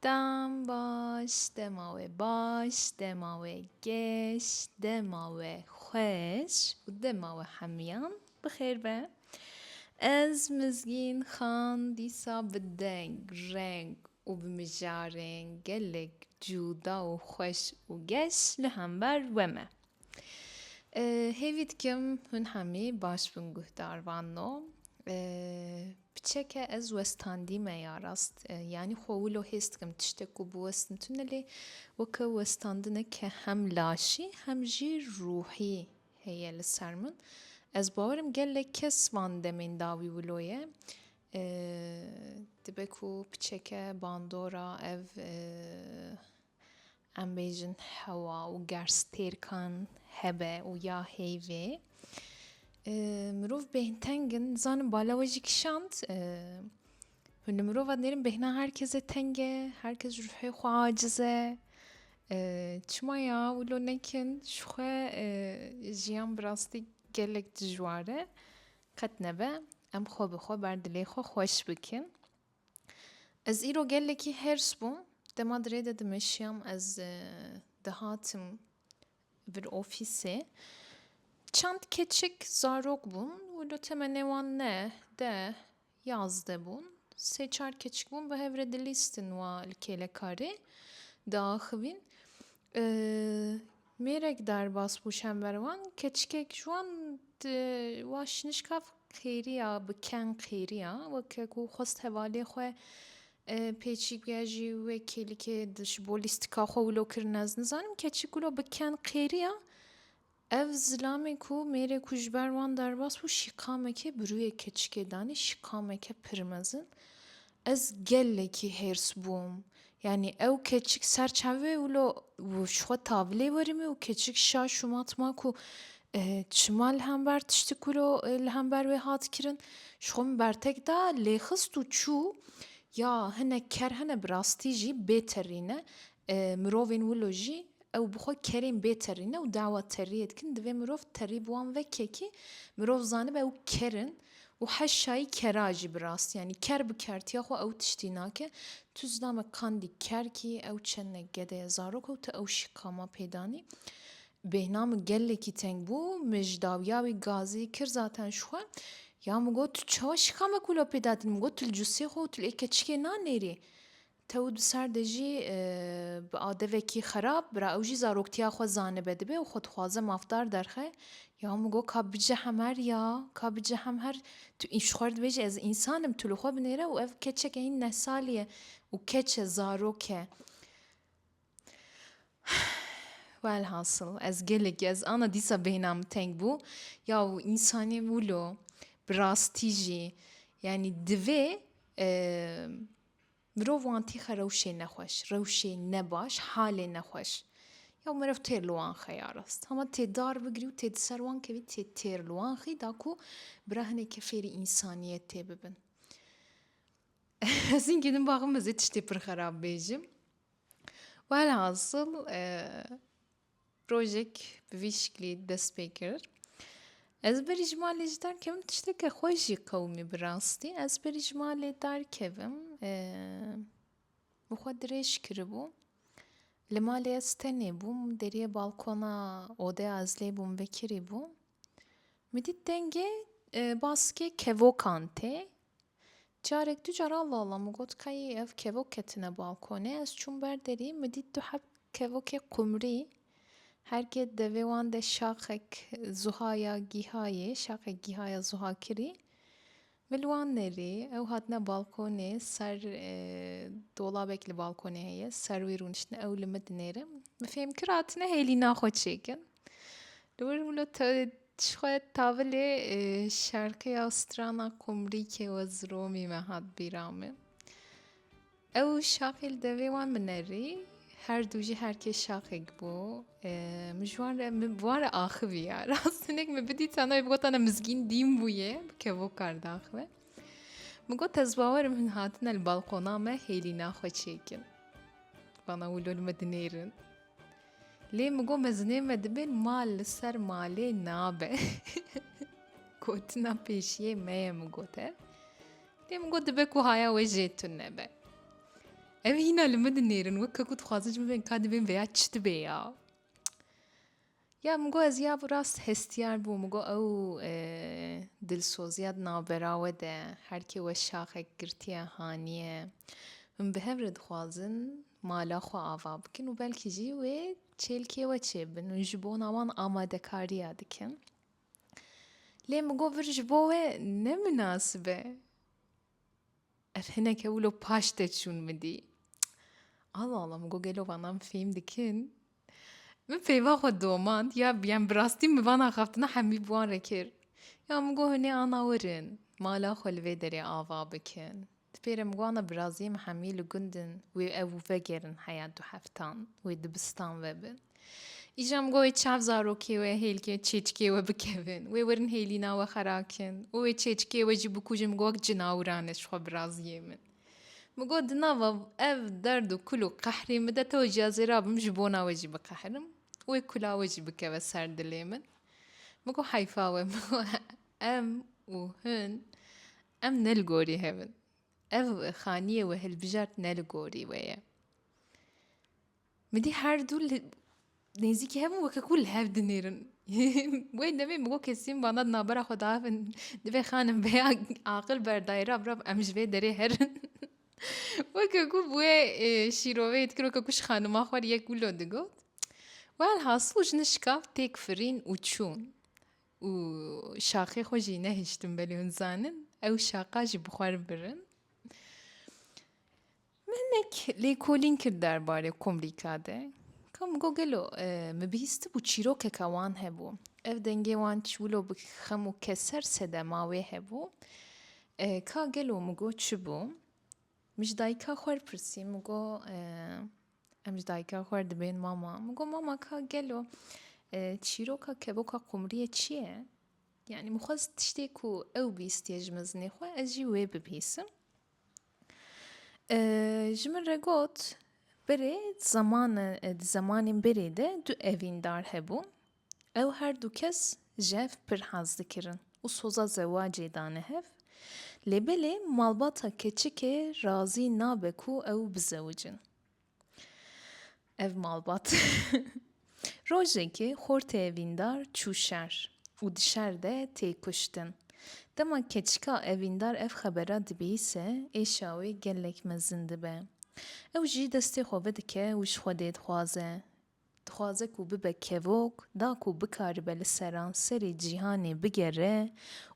Dem baş, dema we baş, dema we geş, dema we xweş û dema we hemiyan bi xêr be. Ez Mizgîn Xan dîsa bi deng, reng û bi mijarên gelek cuda û xweş û geş li hember we me. Hêvî dikim hûn hemî baş bin guhdar van no. Piçeke ez westandî me ya rast. Yanî xwe wilo hês dikim tiştek ku biwestin tune lê weke westandine ke hem laşî hem jî ruhî heye li ser min. Ez bawerim gelek kes van demên da wî wilo ye. Dibe ku piçeke bandora ev Em bêjin hewa û gerstêrkan hebe û ya heyvê. Mirov bêhnteng in, dizanin bala we jî kişand. Hûn li mirova dinêrin bêhna her kesê teng e, her kes ji ruhê xwe aciz e. Çima ya wilo nekin ji xwe jiyan bi rastî gelek dijwar e. Qet nebe em xwe bi xwe ber dilê xwe xweş bikin. Ez îro gelekî hêrs bûm, dema dirê de dimeşiyam ez dihatim vir ofîsê. Çend keçik zarok bûn û li temenê wan neh, deh, yazdeh bûn. Sê çar keçik bûn bi hev re dilîstin wan li kêlekarê diaxivîn. Mêrek derbas bû şemverwan keçikek ji wan di wan şinişka xêriya bi keng xêriya weke ku xwest hevalê xwe pêçî biya jî wê kêlikê ji bo lîstika xwe wilo kirin ez nizanim keçik wilo bi keng xêriya ev zilamê ku mêrê ku ji ber wan derbas bû şîqamekê bi rûyê keçikê danî şîqameke pir mezin Ez gelekî hêrs bûm. Yanî ew keçik ser çav e û lo ji xwe tavilê werime û keçik şaş û mat ma ku çima li hember tiştî ku lo li hember wê hat kirin ji xwe min bertek da lê xist û çû. Ya hinek ker hene bi rastî jî bê terî ne. Mirovên wilo jî ew bi xwe kerên bê terî ne û dawa teriyê dikin. Divê mirov terî bi wan veke kî mirov zanibe ew ker in. Û heşayî kera jî bi rastî yanî ker bi kertiya xwe ew tiştî nake. Tu zina me kandî ker kî ew çende gede ye zarok û tu ew şî ka ma pê danî. Bêhna min gelekî teng bû, min ji dawiya wî gazî kir zaten ji xwe. Ya min got tu çawa şî ka me kûla pê dadîn? Min got tu li cûsê xwe û tu li ê keçikê nanêrî. Tewt bi ser de jî bi adevekî xerab bira ew jî zaroktiya xwe zanibe dibe û xwe dixwaze mafdar derxe ya min got ka bice hemher ya ka bice hemher tu ji xwe re dibêjî ez însan im tu li xwe binêre û ev keçeke hîn neh salî ye û keç e zarok e welhasil ez gelekî ez ana dîsa beyna min teng bû ya însanî wilo bi rastî jî yanî divê Mirov wan tîxe rewşê nexweş, rewşê nebaş, halê nexweş. Ya mirov têr li wan xe ya rast. Hema tê dar bigirî û tê di ser wan kevî tê têr li wan xî da ku bira hinekê fêrî însaniyetê bibin. Ez îngî din baxim ez ê tiştê pir xerab bêjim. Welhasil Rojek bi vî şiklî dest pê kir. Ez berî ji malê ji dar kevim tişteke xwe jî qewimî bi rastî. Ez berî ji malê dar kevim bi xwe dirêj kiribû. Li malê ez tenê bûm. Deriyê balkona odeya ez lê bûm vekirî bû. Min dît dengê baskê kevokan tê. Carek du caran lalam û got kayê ev kevok ketine balkonê, ez çûm ber derî, min dît du heb kevokê qumrî, her kê devê wan de şaxek zuha ya gîha yê, şaxek gîha ya zuha kirî. Min li wan nerî, ew hatine balkonê, ser dolabek li balkonê heye, ser wî rûniştine, ew li min dinêre. Min fêm kir hatine hêlîna xwe çêkin. Li wir min û te jixwe tavilê şarkêya strana komrîkê we ziromî me hat bîra min. Ew şaxê li devê wan minerî her dû jî herkê şaxek bû min ji wan re min bi wan re axiviya rast hinek min bidîtana wê bigota ne mizgîn dîn bûye bi kevokar diaxive. Min got ez bawer im hin hatine li balqona me hêlîna xwe çêkin. Bana wilo li me dinêrin. Lê min got mezinên me dibên mal li ser malê nabe. Gotina pêşiyê me ye min got e. Lê min got dibe ku haya wê jê tun nebe. Ev hîna li min dinêrin wek ku dixwazin ji min bên ka dibên veya çi dibe ya. Ya min got ez ya bi rast hestiyar bûm, min got ew dilsoziya di navbera we de her kê we şaxek girtiye haniye. Min bi hev re dixwazin mala xwe ava bikin û belkî jî wê çêlkê we çêbin û ji bona wan amadekariya dikin. Lê min got vir ji bo we ne minasib e. Ev hineke wilo paş te çûn min dî. Allah Allah min got gelo vanan fêm dikin. Min peyva xwe domand ya yan bi rastî min vana xeftina hemî bi wan re kir. Ya min got hinê ana werin mala xwe li vê derê ava bikin. Di pê re min got ana bi raziyê min hemî li gundin wê ew vegerin heya du heftan wê dibistan vebin. Îja min got wê çav zarokê wê hêlkê çêçikê wê bikevin, wê werin hêlîna wê xerakin û wê çêçikê wê jî bikujin min got wek cinawran e ji xwe biraziyê min. Min got di nava ev derd û kul û qehrê min de tev ciya zêra bim ji bona we jî biqehirim û wê kula we jî bikeve ser dilê min. Min got heyfa we min got em û hin em ne li gorî hevin. Ev xaniyê wê hilbijart ne li gorî wê ye. Midî her du li nêzîkî hev in weke ku li hev dinêrin. Wê demê min got kesîm vana di navbera xwe de hevin divê xanim vê ya aqil berdayê ra birav em ji vê derê herin. Weke ku bi wê şîrovê dikir weke ku ji xanima xwe re yek wilo digot. Welhasil ji min şikav têk firîn û çûn. Û şaxê xwe jî nehiştin belê hûn dizanin ew şaxa jî bi xwe re birin. Mehmek lêkolîn kir derbarê komrîka de. Kam got gelo min bihîstibû çîrokeke wan hebû. Ev dengê wan çi wilo bi xem û keser sedema wê hebû. Ka gelo min got çi bû? Min ji dayika xwe re pirsî, min got em ji dayika xwe re dibên mama. Min got mama ka gelo çîroka kevoka komriyê çi ye? Yanî min xwest tiştê ku ew bihîstiye ji mezinê xwe ez jî wê bibihîsim. Ji min re got, Berê di zemanên berê de du evîndar hebû. Ew her du kes ji hev pir hez dikirin û soza zewacê dane hev. Lê belê malbata keçikê razî nabe ku ew bizewicin. Ev malbat. Rojekê xortê evîndar çû şer û di şer de tê kuştin. Dema keçika evîndar ev xebera dibîse êşa wê gelek mezin dibe. Ew jî destê xwe vedike û ji Xwedê dixwaze. Dixwaze ku bibe kevok, da ku bikaribe li seranserê cîhanê bigere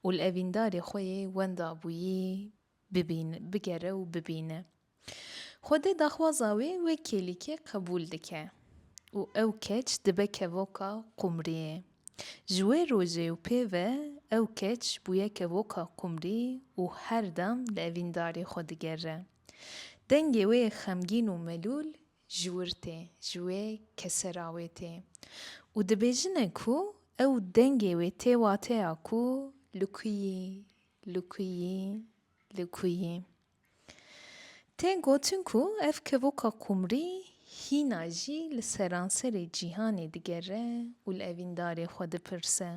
û li evîndarê xwe yê wenda bûyî bibîne, bigere û bibîne. Xwedê daxwaza wê wê kêlîkê qebûl dike û ew keç dibe kevoka qumriyê. Ji wê rojê û pê ve ew keç bûye kevoka qumrî û her dem li evîndarê xwe digere. Dengê wê xemgîn û melûl ji wir tê, ji wê kesera wê tê û dibêjine ku ew dengê wê tê wateya ku li ku yî, li ku yî, li ku yî. Tê gotin ku ev kevoka qumrî hîna jî li seranserê cîhanê digere û li evîndarê xwe dipirse.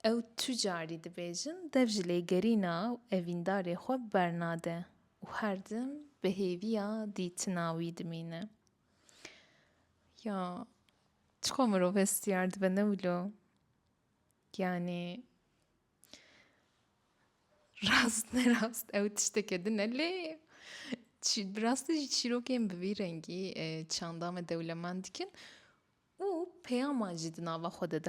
Ew tu carî dibêjin dev ji lêgerîna evîndarê xwe bernade û her tim bi hêviya dîtina wî dimîne. Ya çiqas mirov hestiyar dibe ne wilo? Yanî Rast ne rast ew tişteke din e lê bi rastî jî çîrokên bi vî rengî e, çanda me dewlemend dikin û peyama jî di nava xwe de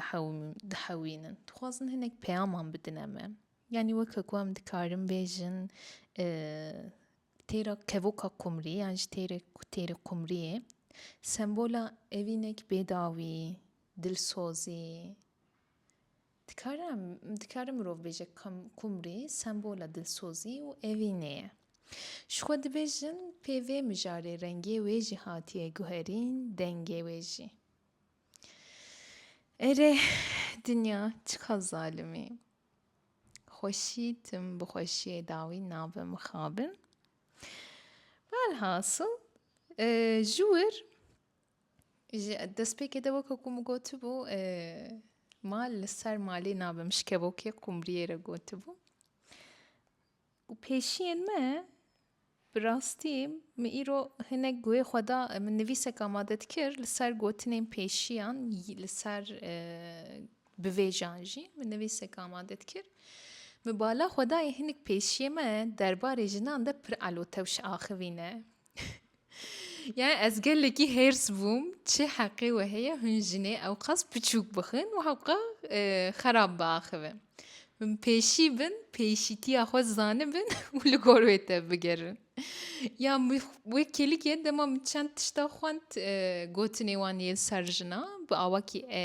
dihewînin. Dixwazin hinek peyaman bidine me. Yanî weke ku em dikarin bêjin e, têra kevoka qumrî yan jî têrê têrê qumriyê sembola evînek bêdawî, dilsozî, Dikare dikare mirov bêje ka kumrî sembola dilsozî û evînê ye. Ji xwe dibêjin pê vê mijarê rengê wê jî hatiye guherîn, dengê wê jî. Erê dinya çiqa zalim î. Xweşî tim bi xweşiyê dawî nabe mixabin. Velhasil ji wir Ji destpêkê de weke ku min gotibû mal li ser malê nabe min ji kevokê qumriyê re gotibû û pêşiyên me bi rastî min îro hinek guhê xwe da min nivîsek amade dikir li ser gotinên pêşiyan li ser bivêjan jî min nivîsek amade dikir min bala xwe dayê hinek pêşiyên me derbarê jinan de pir elotewş axivîne. Yani ez gelekî hêrs bûm çi heqê we heye hûn jinê ewqas piçûk bixin û hewqa e, xerab biaxive. Hûn pêşî bin, pêşîtiya xwe zanibin û li gor wê te bigerin. Ya wê kêlikê dema min çend tişta xwend e, gotinê wan yê serjina bi awakî e,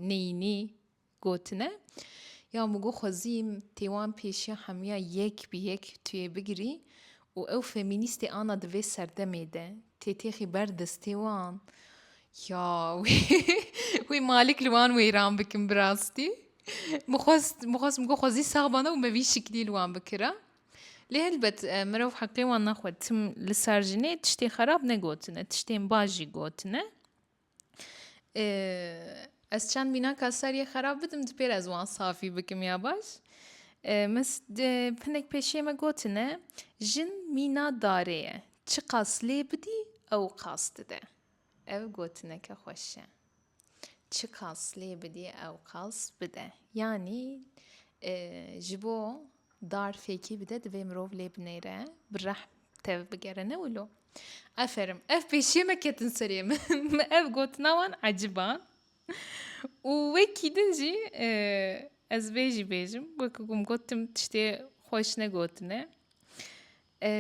neyînî Gotine, Ya Mugo xwezîm tê wan pêşiya hemiya yek bi yek tu yê bigirî û ew femînîstê ana di vê serdemê de tê têxî ber destê wan. Ya wê wê malik li wan wêran bikim bi rastî. Min xwest min xwest Mugo xwezî sax bana û me vî şiklî li wan bikira. Lê helbet mirov heqê wan naxwe. Tim li ser jinê tiştê xerab negotine, tiştên baş jî gotine. Ez çend mînaka seriyê xerab bidim di pêr ez wan safî bikim ya baş. Min hinek pêşiyê me gotine jin mîna darê ye. Çiqas lê bidî ew qas dide. Ev gotineke xweş e. Çiqas lê bidî ew qas bide. Yanî ji bo Dar fêkî bide divê mirov lê binêre, bi rehm tev bigere ne wilo. Aferim. Ev pêşiyê me ketin serê min. Me ev gotina wan ecib a. Û wekî din jî e, ez vê jî bêjim. Wekî ku min got tim tiştê xweş negotine. E,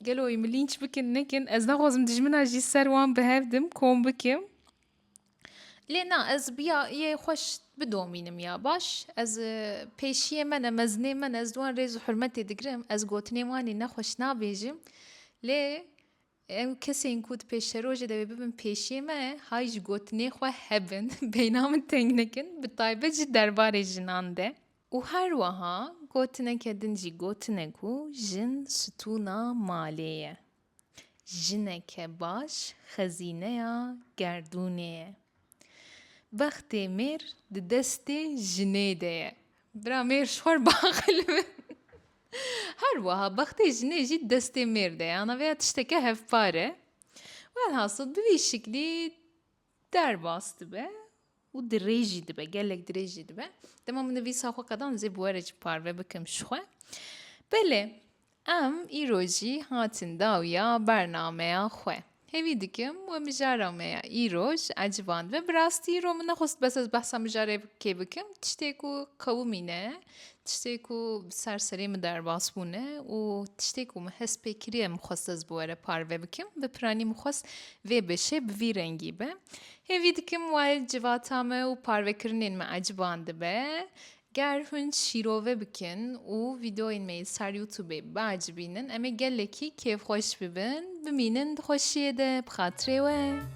gelo wî min lînç bikin nekin. Ez naxwazim dijmina jî ser wan bihevdim, kom bikim. Lê na ez bi ya yê xwe bidomînim ya baş ez pêşiyê me ne mezinê me ne ez di wan rêz û hurmetê digirim ez gotinên wan ê nexweş nabêjim lê ew kesên ku di pêşerojê de bibin pêşiyê me hay ji gotinê xwe hebin beyna min teng nekin bi taybet jî derbarê jinan de û her weha gotineke din jî gotine ku jin stûna malê ye. Jineke baş xezîneya gerdûnê ye. Bextê mêr di destê jinê de ye. Bira mêr ji xwe baqil bi. Her wiha bextê jinê jî di destê mêr de ye. Ana vêya tişteke hevpar e. Welhasil bi vî şiklî Derbas dibe û dirêj jî dibe, gelek dirêj jî dibe. Dema min nivîsa xwe qedan dizê bi were jî parve bikim ji xwe. Belê, em îro jî hatin dawiya bernameya xwe. Hêvî dikim we mijara me ya îro ji eciban dibe. Bi rastî îro min nexwest bes ez behsa mijarê kê bikim, tiştê ku qewimîne. Tiştê ku bi ser serê min derbas bûne û tiştê ku min hest pê kiriye min xwest ez bi we re parve bikim. Bi piranî min xwest vê beşê bi vî rengî be. Hêvî dikim wayê civata me û parvekirinên me eciban dibe. Ger hûn şîrove bikin û vîdeoyên me yê ser YouTubeê biacibînin em ê gelekî kêfxweş bibin. Bimînin di xweşiyê de bi xatirê we.